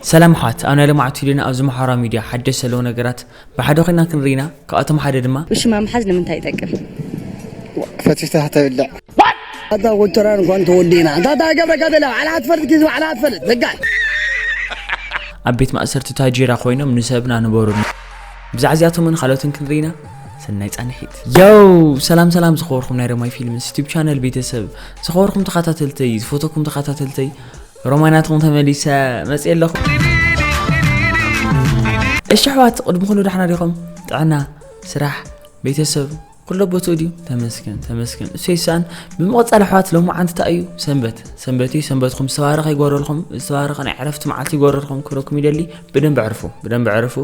ሰላም ኣሕዋት ኣብ ናይ ለማዓቱ ሂደና ኣብዚ ማሓበራዊ ሚድያ ሓደሽ ዘለዉ ነገራት ብሓደ ኮይና ክንርኢ ኢና ካብኣቶም ሓደ ድማ። ውሽማ ምሓዝ ንምንታይ ይጠቅም? ዋእ ፈቲተህ ተብልዕ። ኣታ ኮቸራ እንኳን ተወዲእና እንታይ ተገብረካ ተላ ባዕልኻ ትፈልጥ ኪስ ባዕልኻ ትፈልጥ በቃ። ኣብ ቤት ማእሰርቲ ታጄራ ኮይኖም ንሰብና ንበሩልና ብዛዕ እዚኣቶምን ኻልኦትን ክንርኢ ኢና ሰናይ ጻንሒት። ዮው ሰላም ሰላም ዝኸበርኩም ናይ ረማይ ፊልምስ ዩቱብ ቻነል ቤተሰብ ዝኸበርኩም ተኸታተልተይ ዝፈተኩም ተኸታተልተይ ሮማይ ናትኩም ተመሊሰ መጽ ኣለኹ እሺ ኣሕዋት ቅድሚ ኩሉ ዳሕና ዲኹም ጥዕና ስራሕ ቤተሰብ ኩሎ ቦትኡ ድዩ ተመስገን ተመስገን እሰይ ሳን ብምቕፃል ኣሕዋት ሎሚ ዓንቲ እንታይ እዩ ሰንበት ሰንበት እዩ ሰንበትኩም ዝተባረኸ ይጎረልኩም ዝተባረኸ ናይ ዕረፍቲ መዓልቲ ይጎረልኩም ክብረኩም ይደሊ ብደንብ ዕርፉ ብደንብ ዕርፉ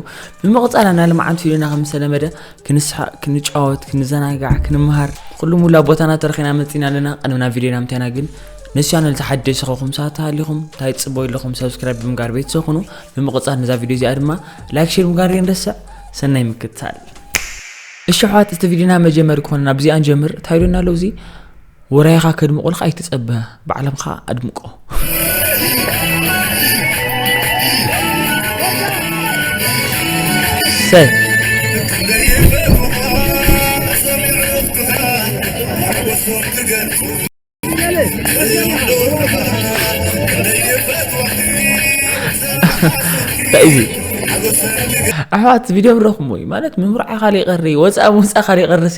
ብምቕፃል ኣና ልመዓንቲ ቪድዮና ከም ዝተለመደ ክንስሓቅ ክንጫወት ክንዘናጋዕ ክንመሃር ኩሉ ሙላ ቦታና ተረኺና መጺና ኣለና ቀንምና ቪድዮና ምታይና ግን ነዚ ቻነል ተሓደሲ ከኹም ሰዓት ተሃሊኹም እንታይ ጽቦ ኣለኹም ሰብስክራይብ ብምጋር ቤተሰብ ኩኑ ብምቕጻል ነዛ ቪድዮ እዚኣ ድማ ላይክ ሼር ምጋር ይንረስዕ ሰናይ ምክትታል እሺ ኣሕዋት እቲ ቪድዮና መጀመሪ ክኾነና ብዚኣ ንጀምር እንታይ ኢሉና ኣሎ እዚ ውራይኻ ከድምቑልካ ኣይትጸበ ባዕለምኻ ኣድምቆ ሰ እዚ ኣሕዋት ቪድዮ ረኹሞ እዩ ማለት ምምርዓ ካሊእ ቀሪ ወፃእ ምውፃእ ካሊእ ቀርሲ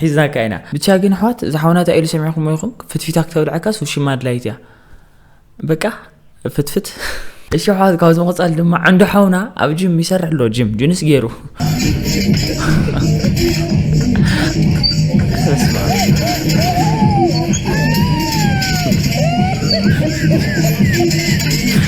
ሒዝናካ ኢና ብቻ ግን ኣሕዋት እዛ ሓውና እንታይ ኢሉ ሰሚዕኩሞ ኢኹም ፍትፊታ ክተብልዐካስ ውሽማ ኣድላይት እያ በቃ ፍትፍት እሺ ኣሕዋት ካብዚ ምቕፃል ድማ ዓንዶ ሓውና ኣብ ጅም ይሰርሕ ኣሎ ጅም ጅንስ ገይሩ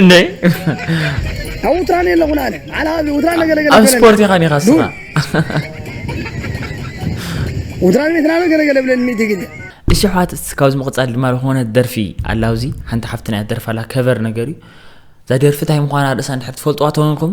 እንዴ አውትራን የለኹን አለ ማዕላ ውትራን ነገለገለ ኣብ ስፖርት ኢኻ ኒኻ ስኻ ውትራን ቤትና ነው ገለገለ ብለን ሚእቲ ግዜ እሺ ኣሕዋት ካብዚ ምቕፃል ድማ ዝኾነ ደርፊ ኣላ ኣብዚ ሓንቲ ሓፍትና እያ ደርፋ ኣላ ከቨር ነገር እዩ እዛ ደርፊ እንታይ ምዃና ርእሳ እንድሕር ትፈልጥዋ ተኾንኩም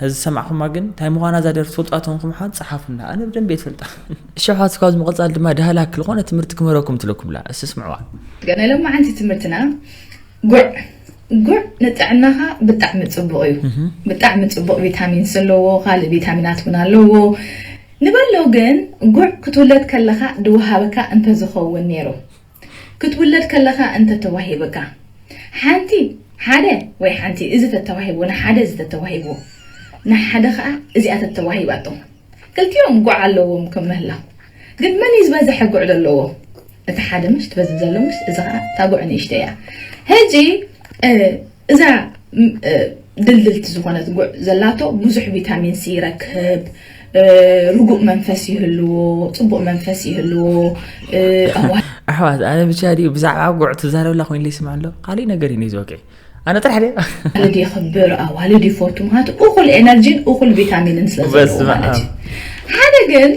ሐዚ ዝሰማዕኹማ ግን እንታይ ምዃና እዛ ደርፊ ትፈልጧ ተንኩምሓን ጸሓፉልና ኣነ ብደንብ የትፈልጣ እሸሓት ካብዚ ምቕጻል ድማ ዳህላክ ዝኾነ ትምህርቲ ክምህረኩም ትለኩምላ እስቲ ስምዕዋ ገና ሎማዓንቲ ትምህርትና ጉዕ ጉዕ ንጥዕናኻ ብጣዕሚ ጽቡቕ እዩ ብጣዕሚ ጽቡቕ ቪታሚን ስለዎ ካልእ ቪታሚናት እውን ኣለዎ ንበሎ ግን ጉዕ ክትውለድ ከለኻ ድወሃበካ እንተዝኸውን ነይሩ ክትውለድ ከለኻ እንተ ተዋሂብካ ሓንቲ ሓደ ወይ ሓንቲ እዚ ተተዋሂብዎ ንሓደ እዚ ተተዋሂብዎ ንሓደ ከኣ እዚኣ ተተዋሂባቶ ክልቲኦም ጉዕ ኣለዎም ከም ምህላው ግን መን እዩ ዝበዘሐ ጉዕ ዘለዎ እቲ ሓደ ምሽ ትበዝሕ ዘሎ ምሽ እዚ ከኣ እታ ጉዕ ንእሽተይ እያ ህጂ እዛ ድልድልቲ ዝኾነት ጉዕ ዘላቶ ብዙሕ ቪታሚን ሲ ይረክብ፣ ርጉእ መንፈስ ይህልዎ፣ ጽቡቕ መንፈስ ይህልዎ። ኣሕዋት ኣነ ብቻ ድዩ ብዛዕባ ጉዕ ትዛረብላ ኮይኑ ይስምዕ ኣሎ ካሊእ ነገር እዩ ዝወቅዒ ኣነ ጥራሕ ድየ ኣዋልድ የኽብር ኣዋልድ ይፈቱ ምክንያቱ እኹል ኤነርጂን እኹል ቪታሚንን ስለ ዘለዎ ማለት እዩ ሓደ ግን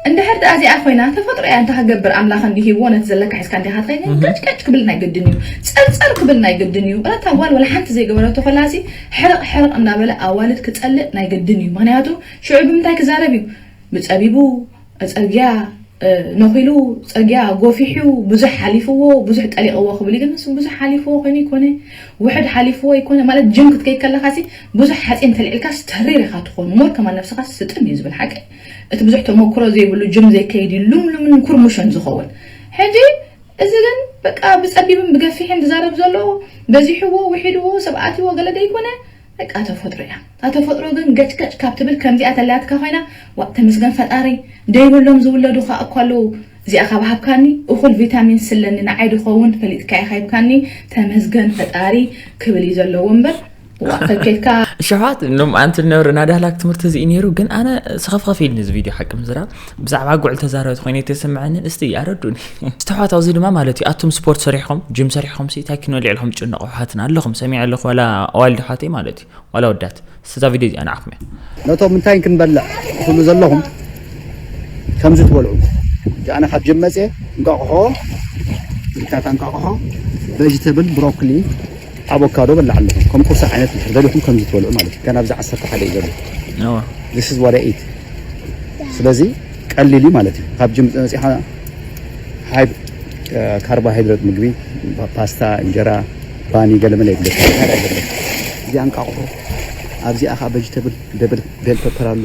እንድሕር ድኣ እዚኣ ኮይና ተፈጥሮ እያ እንታይ ክገብር ኣምላክ እንዲሂብዎ ነቲ ዘለካ ሒዝካ እንዲካ ትከይድ ቀጭቀጭ ክብል ናይ ግድን እዩ ጸርጸር ክብል ናይ ግድን እዩ እታ ጓል ወላ ሓንቲ ዘይገበረቶ ከላሲ ሕርቅ ሕርቅ እንዳበለ ኣዋልድ ክጸልእ ናይ ግድን እዩ ምክንያቱ ሽዑ ብምንታይ ክዛረብ እዩ ብጸቢቡ ጸግያ ነኪሉ ጸግያ ጎፊሑ ብዙሕ ሓሊፍዎ ብዙሕ ጠሊቅዎ ክብል ግን ንሱ ብዙሕ ሓሊፍዎ ኮይኑ ይኮነ ውሕድ ሓሊፍዎ ይኮነ ማለት ጅም ክትከይድ ከለካሲ ብዙሕ ሓጺን ተልዒልካስ ተሪር ኢካ ትኮን ሞር ከማን ነብስካ ስጥም እዩ ዝብል ሓቀይ እቲ ብዙሕ ተሞክሮ ዘይብሉ ጅም ዘይከይድ ሉምሉምን ኩርሙሽን ዝኸውን ሕጂ እዚ ግን በቃ ብጸቢብን ብገፊሕን ድዛረብ ዘሎ በዚሕዎ ዊሒድዎ ሰብ ኣትይዎ ገለ ደይኮነ በቃ ተፈጥሮ ኢያ እታ ተፈጥሮ ግን ገጭ ገጭ ካብ ትብል ከምዚኣ ተላትካ ኮይና ዋእ ተመስገን ፈጣሪ ደይብሎም ዝውለዱ ከኣ እኮ ኣለዉ እዚኣ ካብ ሃብካኒ እኹል ቪታሚንስ ስለኒ ንዓይ ድኸውን ፈሊጥካ ኢኻ ሂብካኒ ተመስገን ፈጣሪ ክብል ኢዩ ዘለዎ እምበር ሸውዓት ሎምዓንቲ ነብሪ ናዳህላክ ትምህርቲ እዚ እዩ ነይሩ ግን ኣነ ሰኸፍኸፍ ኢልኒ እዚ ቪድዮ ሓቂ ምዝራ ብዛዕባ ጉዕል ተዛረብቲ ኮይኑ ተሰምዐንን እስቲ ኣረዱኒ ዝተሕዋት ኣብዚ ድማ ማለት እዩ ኣቱም ስፖርት ሰሪሕኹም ጅም ሰሪሕኹም ሲ እንታይ ኪኖ ልዕልኹም ጭነቑ ኣሕዋትና ኣለኹም ሰሚዐ ኣለኹ ዋላ ኣዋልድ ኣሕዋተይ ማለት እዩ ዋላ ወዳት ስዛ ቪድዮ እዚኣ ንዓኹም እያ ነቶም እንታይ ክንበልዕ ትብሉ ዘለኹም ከምዚ ትበልዑ ኣነ ካብ ጅም መፅየ እንቋቑሖ ዝካታ እንቋቑሖ ቬጅተብል ብሮኮሊ ኣቮካዶ በላዕ ኣለኹ ከም ቁርሲ ዓይነት እንድሕር ደሊኹም ከምዚ ትበልዑ ማለት እዩ ገና ኣብዚ ዓሰርተ ሓደ እዩ ዘሎ ነዋ this is what I eat ስለዚ ቀሊል እዩ ማለት እዩ ካብ ጅም መጺኻ ሃይ ካርቦሃይድሬት ምግቢ ፓስታ እንጀራ ባኒ ገለመለ የብለ እዚኣ እንቃቑሑ ኣብዚኣ ከዓ ቬጅተብል ደብል ቤል ፐፐር ኣሎ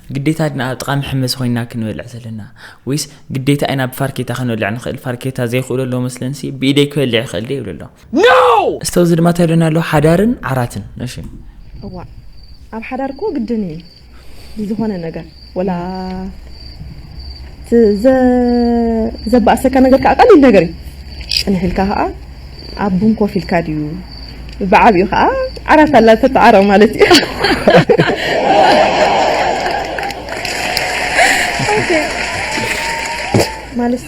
ግዴታ ድና ኣብ ጥቓ መሐመሲ ኮይና ክንበልዕ ዘለና ወይስ ግዴታ ኢና ብፋርኬታ ክንበልዕ ንኽእል ፋርኬታ ዘይኽእሎ ኣለዎ መስለንሲ ብኢደይ ክበልዕ ይኽእል ደ ይብሉ ኣሎ እስቶ እዚ ድማ ተብለና ኣሎ ሓዳርን ዓራትን እሺ እዋ ኣብ ሓዳር እኮ ግድን እዩ ዝኾነ ነገር ወላ ዘባእሰካ ነገር ከዓ ቀሊል ነገር እዩ ፅንሕ ኢልካ ከዓ ኣብ ቡን ኮፍ ኢልካ ድዩ ብዓቢኡ ከኣ ዓራት ኣላ ተተዓረቕ ማለት እዩ ማለት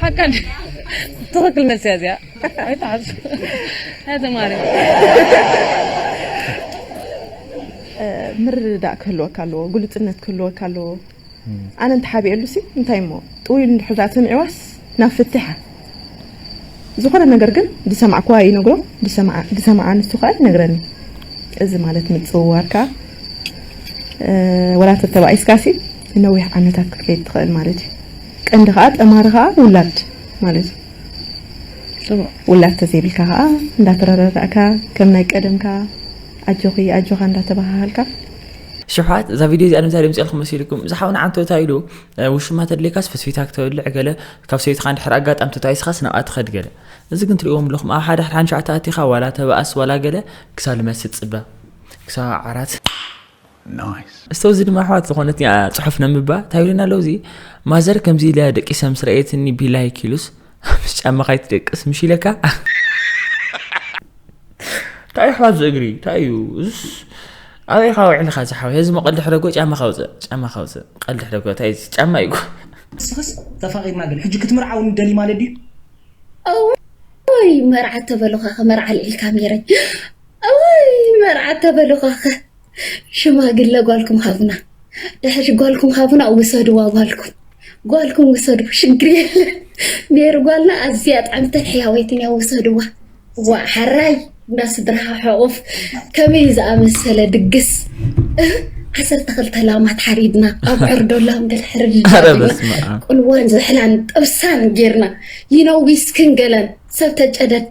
ሓቃ ትኽክል መልሲ እያ እዚኣ ኣይትዓሱ ተማሪ ምርድዳእ ክህልወካ ኣለዎ ግሉፅነት ክህልወካ ኣለዎ ኣነ እንተሓቢኤሉሲ እንታይ እሞ ጥውይ ኢሉ እንድሕር ደኣ ሰሚዕዋስ ናብ ፍትሓ ዝኾነ ነገር ግን ዝሰማዕክዋ ይነግሮ ዝሰምዓ ንሱ ከኣ ይነግረኒ እዚ ማለት ምጽውዋር ከኣ ወላ ተተባኢስካሲ ንነዊሕ ዓመታት ክትከይድ ትኽእል ማለት እዩ ቀንዲ ከኣ ጠማሪ ከኣ ውላድ ማለት እዩ ውላድ ተዘይብልካ ከዓ እንዳተረዳዳእካ ከም ናይ ቀደምካ ኣጆኺ ኣጆኻ እንዳተባሃሃልካ ሽውሓት እዛ ቪድዮ እዚኣ ንምንታይ ድምፅልኩም መሲልኩም እዚ ሓውና ዓንተታ ኢሉ ውሽማ ተድልየካስ ፈስፊታ ክተብልዕ ገለ ካብ ሰይትካ ንድሕር ኣጋጣሚ ተታይስኻስ ናብኣ ትኸድ ገለ እዚ ግን ትሪእዎም ኣለኹም ኣብ ሓደ ሓን ሸዓተ ኣቲኻ ዋላ ተበኣስ ዋላ ገለ ክሳብ ልመስጥ ፅበ ክሳብ ዓራት እስተው እዚ ድማ ኣሕዋት ዝኾነት ፅሑፍ ነምባ እንታይ ኣለዉ እዚ ማዘር ከምዚ ኢለ ደቂሰ ምስ ረእየትኒ ቢላይክ ኢሉስ ምስ ጫማ ካይትደቅስ ምሽ ኢለካ እንታይ እዩ ኣሕዋት ዝእግሪ እንታይ እዩ እዙስ ኣበይ ካብ ውዕልካ ዝሓወ እዚ መቐልዲ ሕደጎ ጫማ ካውፅእ ጫማ ካውፅእ ቀልዲ ሕደጎ እንታይ እዩ ጫማ እዩ ንስኽስ ተፋቒድና ግን ሕጂ ክትምርዓውኒ ደሊ ማለት ድዩ እውይ መርዓ ተበሉኻኸ መርዓ ኣልዒልካ ሜረይ እውይ መርዓ ተበሉኻኸ ሽማግለ ጓልኩም ሃቡና ድሕሪ ጓልኩም ሃቡና ውሰድዋ ጓልኩም ጓልኩም ውሰዱ ሽግር የለን ሜሪ ጓልና ኣዝያ ጣዕምትን ሕያወይትን እያ ውሰድዋ ዋ ሓራይ እና ስድራኻ ሕቑፍ ከመይ ዝኣመሰለ ድግስ ዓሰርተ ክልተ ላማት ሓሪድና ኣብ ዕርዶላም ገለ ሕርድና ቁልዋን ዝሕላን ጥብሳን ጌርና ይነዊስክን ገለን ሰብ ተጨደድ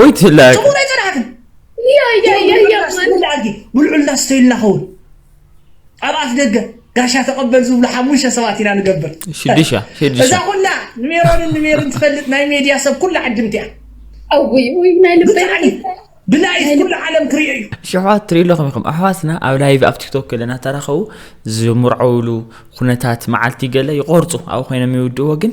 ኦይ ትላ ጭሙር ኣይጸናሕክን ብልዑልና ስተይልና ኸውን ኣብ ኣፍ ደገ ጋሻ ተቐበል ዝብሉ ሓሙሽተ ሰባት ኢና ንገብር ሽዱሻ እዛ ኩላ ንሜሮንን ንሜርን ትፈልጥ ናይ ሜድያ ሰብ ኩላ ዓድምቲ እያ ኣውይ ውይ ናይ ልበይ ብላይት ኩሉ ዓለም ክሪኦ እዩ ሽሕዋት ትሪኡ ኣለኹም ኢኹም ኣሕዋትና ኣብ ላይቭ ኣብ ቲክቶክ ገለ እናተራኸቡ ዝምርዐውሉ ኩነታት መዓልቲ ገለ ይቆርፁ ኣብኡ ኮይኖም ይውድእዎ ግን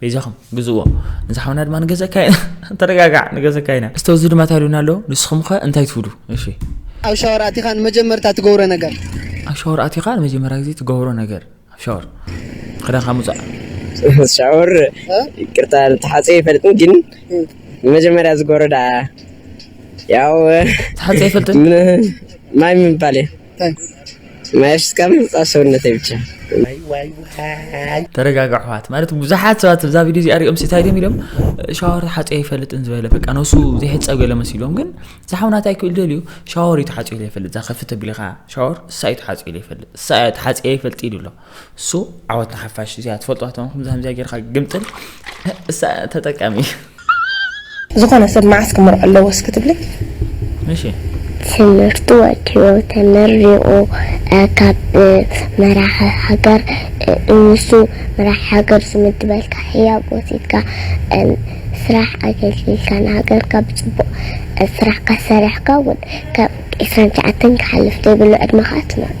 በይዛኹም ግዝዎ እዚ ሓውና ድማ ንገዘካ ኢና ተረጋጋዕ ንገዘካ ኢና እስተ እዚ ድማ ታሉና ኣሎ ንስኹም ከ እንታይ ትብሉ እሺ ኣብ ሻወር ኣቲኻ ንመጀመርታ ትገብሮ ነገር ኣብ ሻወር ኣቲኻ ንመጀመርያ ግዜ ትገብሮ ነገር ኣብ ሻወር ክዳንካ ምውፃእ ሻወር ይቅርታ ተሓፀ ይፈልጥን ግን መጀመሪያ ዝጎረዳ ያው ተሓፀ ይፈልጥን ማይ ምባል እዩ ማይ ኣፍሲስካ ምሕፃብ ሰውነተይ ብቻ። ተረጋጋ ኣሕዋት ማለት ብዙሓት ሰባት እዛ ቪድዮ እዚኣ ሪኦም እንታይ ድም ኢሎም ሻወር ተሓፂዮ ኣይፈልጥን ዝበለ በቃ ነሱ ዘይሕፀብ ገለ መሲሎም ግን ዝሓውናት ኣይክእል ደልዩ ሻወር እዩ ተሓፂዮ ዘይፈልጥ እዛ ከፍት ተቢልኻ ሻወር እሳ እዩ ተሓፂዮ ዘይፈልጥ እሳ እያ ተሓፂዮ ይፈልጥ ኢሉ ኣሎ So ዓወት ንሓፋሽ እዚኣ ትፈልጥዋ ተንኩም ዛምዚኣ ጌርካ ግምጥል እሳ ተጠቃሚ ዝኾነ ሰብ መዓስ ክምርዖ ኣለዎ እስኪ ትብሊ ምሽ ትምህርቲ ወዲኡ ተመሪቑ ካብ መራሒ ሃገር ንሱ መራሒ ሃገር ዝምድበልካ ህያብ ወሲድካ ስራሕ ኣገልጊልካ ንሃገርካ ብፅቡቕ ስራሕካ ሰሪሕካ እውን ካብ ዕስራን ትሽዓተን ክሓልፍ ዘይብሉ ዕድመኻ ትመርዖ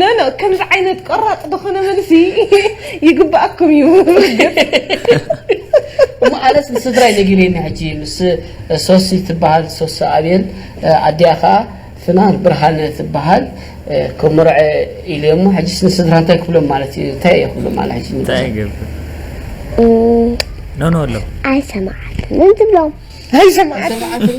ኖኖ ከምዚ ዓይነት ቆራጽ ዝኾነ መልሲ ይግባኣኩም እዩ እሞ ኣነስ ንስድራይ ነጊረኒ ሕጂ ምስ ሶሲ ትበሃል ሶሲ ኣብየል ኣዲኣ ከዓ ፍናን ብርሃነ ትበሃል ክምርዐ ኢሉ እሞ ሕጂስ ንስድራ እንታይ ክብሎም ማለት እዩ እንታይ እየ ክብሎም ማለት ሕጂ እንታይ ይገብር ኖኖ ኣሎ ኣይሰማዓትን እንትብሎም ኣይሰማዓትን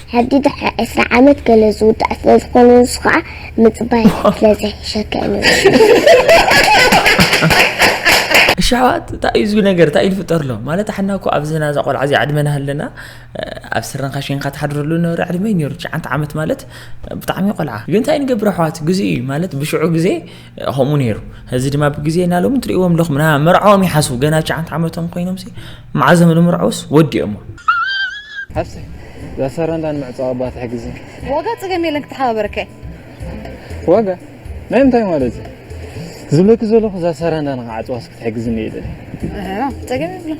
ሕዲ ድሕሪ ዕስራ ዓመት ገለ ዝውዳእ ስለ ዝኾነ ንሱ ኸኣ ምጽባይ ስለ ዘይሕሸካ እዩ እሺ ኣሕዋት እንታይ እዩ ዝብል ነገር እንታይ እዩ ዝፍጠር ኣሎ ማለት ኣሕና እኮ ኣብዚ ናዛ ቆልዓ እዚ ዕድመና ሃለና ኣብ ስረንካ ሽንካ ትሓድረሉ ነበረ ዕድመ ነይሩ ትሽዓተ ዓመት ማለት ብጣዕሚ ቆልዓ ግን እንታይ ንገብር ኣሕዋት ግዜ እዩ ማለት ብሽዑ ግዜ ከምኡ ነይሩ እዚ ድማ ብግዜ እና ሎሚ ትርእዎም ኣለኹም ና መርዓኦም ይሓስቡ ገና ሸዓንተ ዓመቶም ኮይኖም መዓዞም ንምርዐውስ ወዲኦሞ ዘሰረንዳን ምዕፃ ኣባ ትሕግዝ ዋጋ ፀገም የለን ክትሓባበረከ ዋጋ ናይ ምንታይ ማለት እዩ ዝብለኪ ዘለኹ እዛ ሰረንዳ ንክዓፅዋስ ክትሕግዝኒ እየ ደለ ፀገም የብለን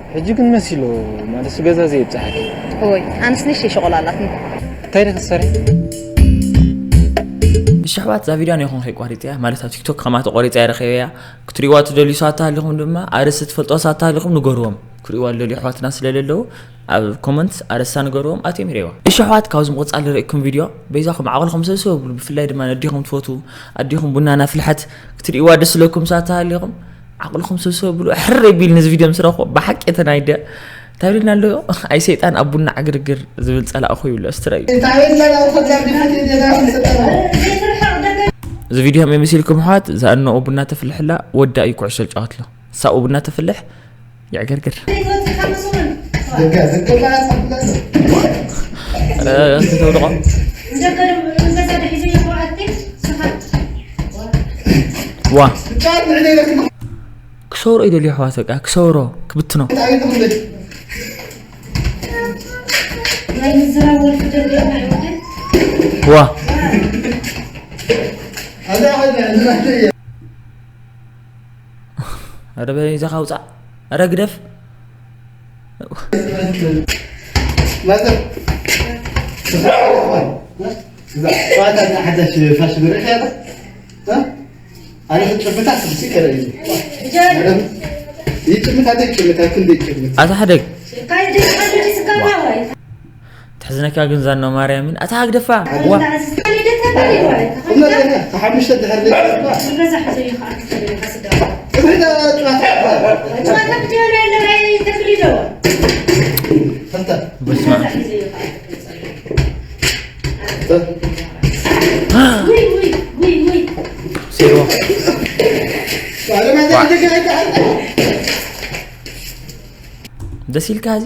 ሕጂ ግን መሲሉ ማለት ገዛ ዘይብጽሓኪ ወይ ኣንስ ንሽ ሸቆላላት እንታይ ደ ክትሰርሒ ንሽሕባት እዛ ቪድዮ ነይኹም ከይቋሪፀያ ማለት ኣብ ቲክቶክ ከማ ተቆሪፀያ ረኸበያ ክትሪእዋ ትደልዩ ሰባት ተሃሊኹም ድማ ኣርእስቲ ትፈልጦ ሰባት ተሃሊኹም ንገርዎም ክሪእዋ ዝደልዩ ኣሕዋትና ስለዘለዉ ኣብ ኮመንት ኣርእስታ ንገርዎም ኣትዮም ይሪእዋ እሺ ኣሕዋት ካብዚ ምቕፃል ዝርእኩም ቪድዮ በይዛኹም ዓቕልኹም ሰብሰብ ብሉ ብፍላይ ድማ ነዲኹም ትፈትዉ ኣዲኹም ቡና ናፍልሐት ክትሪእዋ ደስ ዝለኩም ሰባት ተሃሊኹም ዓቕልኹም ሰብሰብ ብሉ ሕር ቢል ንዚ ቪድዮ ምስ ረኽቦ ብሓቂ እቲ ናይ ደ እንታይ ብልና ኣሎ ኣይ ሰይጣን ኣብ ቡና ዕግርግር ዝብል ፀላእ እኮ ይብሎ ስትረዩ እዚ ቪድዮ ከመይ መሲልኩም ኣሕዋት እዛ እነኡ ቡና ተፍልሕላ ወዳ እዩ ኩዕሶ ዝጫወትሎ ሳኡ ቡና ተፍልሕ ይዕግርግር ዋ ክሰብሮ እዩ ደልዮ ኣሕዋት በቃ ክሰብሮ ክብትኖ ዋ ኧረ በይዛኻ ውፃእ ኧረ ግደፍ ኣታ ሓደግ ተሕዝነካ ግን ዛና ማርያምን ኣታ ሃግደፋ ዋ ደስ ኢልካ እዚ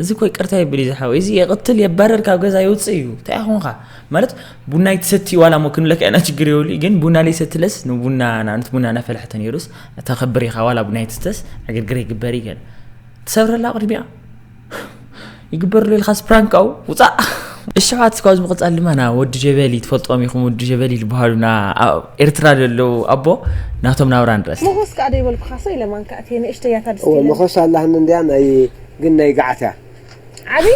እዚ እኮ ይቅርታ የብል እዩ ዝሓወይ እዚ የቕትል የባረር ካብ ገዛ ይውፅእ እዩ እንታይ ኮንካ ማለት ቡና ይትሰቲ ዋላ ሞ ክንብለካ ኢና ችግር የብሉ ግን ቡና ለይሰትለስ ንቡና ንኣብነት ቡና እናፈላሕተ ነይሩስ ተኸብር ኢኻ ዋላ ቡና ይትስተስ ዕግርግር ይግበር እዩ ገለ ትሰብረላ ቅድሚያ ይግበርሉ ኢልካ ስፕራንክ ኣው ውፃእ እሸዋት ስኳዝ ምቕፃል ድማ ና ወዲ ጀበሊ ትፈልጦም ኢኹም ወዲ ጀበሊ ዝበሃሉ ና ኤርትራ ዘለዉ ኣቦ ናቶም ናብራ ንረስ ምኹስ ከዓ ደይበልኩኻሰ ኢለ ማንካ እቲ ንእሽተያታ ድስቲ ምኹስ ኣላህን እንድያ ናይ ግን ናይ ገዓትያ ዓብዪ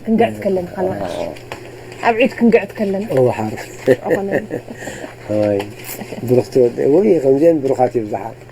ክንገዕት ከለና ካላ ኣብ ዒድ ክንገዕት ከለና እወ ሓርፍ ብሩኽቲ ወደ ወይ ከምዚአን ብሩኻት ይብዛሓ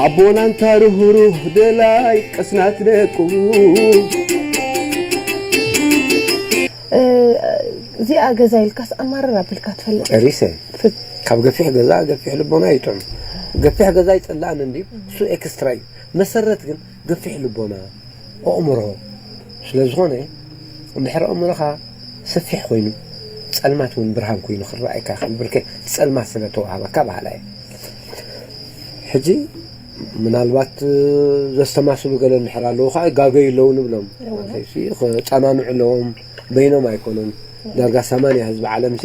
ኣቦና ኣንታ ርህሩህ ደላይ ቅስናት ደቁ። እዚኣ ገዛ ኢልካስ ኣማርር ኣቢልካ ትፈልጥ? ጨሪሰ ካብ ገፊሕ ገዛ ገፊሕ ልቦና እዩ ጥዑም ገፊሕ ገዛ ኣይፅላእን እንድዩ እሱ ኤክስትራ እዩ መሰረት ግን ገፊሕ ልቦና፣ ኣእምሮ፣ ስለ ዝኾነ እንድሕር ኣእምሮኻ ሰፊሕ ኮይኑ ጸልማት ውን ብርሃን ኮይኑ ክረኣየካ ይኽእል ብርክ እቲ ጸልማት ስለ ተዋህበካ በሃላይ እየ። ሕጂ ምናልባት ዘስተማስሉ ገለ እንድሕር ኣለዉ ከዓ ይጋገዩ ኣለዉ ንብሎም ክጸናንዑ ኣለዎም በይኖም ኣይኮኑን ዳርጋ ሰማንያ ህዝቢ ዓለምሲ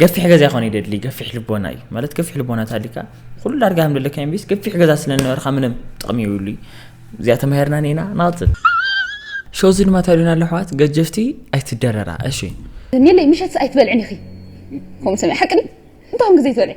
ገፊሕ ገዛ ይኾን ይደድሊ ገፊሕ ልቦና እዩ ማለት ገፊሕ ልቦና ታሊካ ኩሉ ዳርጋ ከም ደለካ ቢስ ገፊሕ ገዛ ስለ ዝነበርካ ምንም ጥቕሚ ይብሉ እዚኣ ተማሂርና ኒና ናቕፅል ሸዚ ድማ ተሪና ኣሎ ኣሕዋት ገጀፍቲ ኣይትደረራ እሺ ኒለይ ምሸት ኣይትበልዕን ኢኺ ከምኡ ሰሚዐ ሓቂ እንታኹም ግዜ ትበልዕ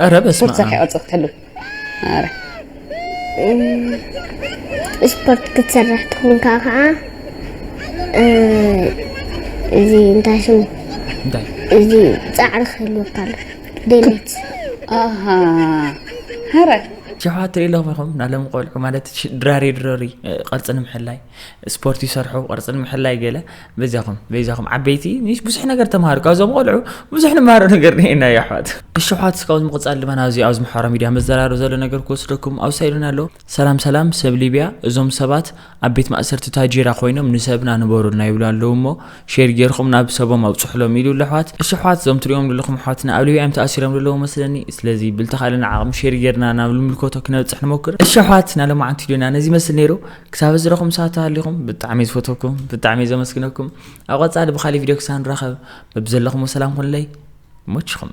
ኧረ በስመ ስፖርት ዘካይ ቅርፂ ክትሕሉ ኧረ ስፖርት ክትሰርሕ ትኹን ከዓ ከዓ እዚ እንታይ ሽሙ እንታይ እዚ ፃዕሪ ክህልወካ ኣሎ ደሌት ኣሃ ኧረ ሸውዓተ ኢለኹም ኢኹም ናሎም ቆልዑ ማለት ሽ- ድራሪ ድረሪ እ፣ ቅርፂ ንምሕላይ ስፖርት ይሰርሑ ቅርጺ ንምሕላይ ገለ በዚኹም በዚኹም ዓበይቲ ንሽ ብዙሕ ነገር ተማሃሩ ካብዞም ቆልዑ ብዙሕ ንማሃሮ ነገር ነና የሕዋት እሺ ኣሕዋት እስካብ ምቕጻል ድማ ናብዚ ኣብዚ ምሕራ ሚድያ መዘራሩ ዘሎ ነገር ክወስደኩም ኣውሳኢሉና ኣሎ ሰላም ሰላም ሰብ ሊብያ እዞም ሰባት ኣብ ቤት ማእሰርቲ ታጂራ ኮይኖም ንሰብና ንበሩልና ይብሉ ኣለዉ እሞ ሼር ጌርኩም ናብ ሰቦም ኣውጽሑሎም ኢሉ ለሕዋት እሺ ኣሕዋት እዞም ትሪኦም ዘለኹም ኣሕዋትና ኣብ ሊብያ እዮም ተኣሲሮም ዘለዉ መስለኒ ስለዚ ብልተኻእለና ዓቕሚ ሼር ጌርና ናብ ልምልከቶ ክነብጽሕ ንሞክር እሺ ኣሕዋት ናሎማዓንቲ ዶና ነዚ መስል ነይሩ ክሳብ እዚ ረኹም ሰዓት ተሃሊኹም ብጣዕሚ ዝፈተኩም ብጣዕሚ ዘመስግነኩም ኣብ ቐጻሊ ብኻሊእ ቪድዮ ክሳብ ንራኸብ በብዘለኹሞ ሰላም ኩንለይ ሞችኹም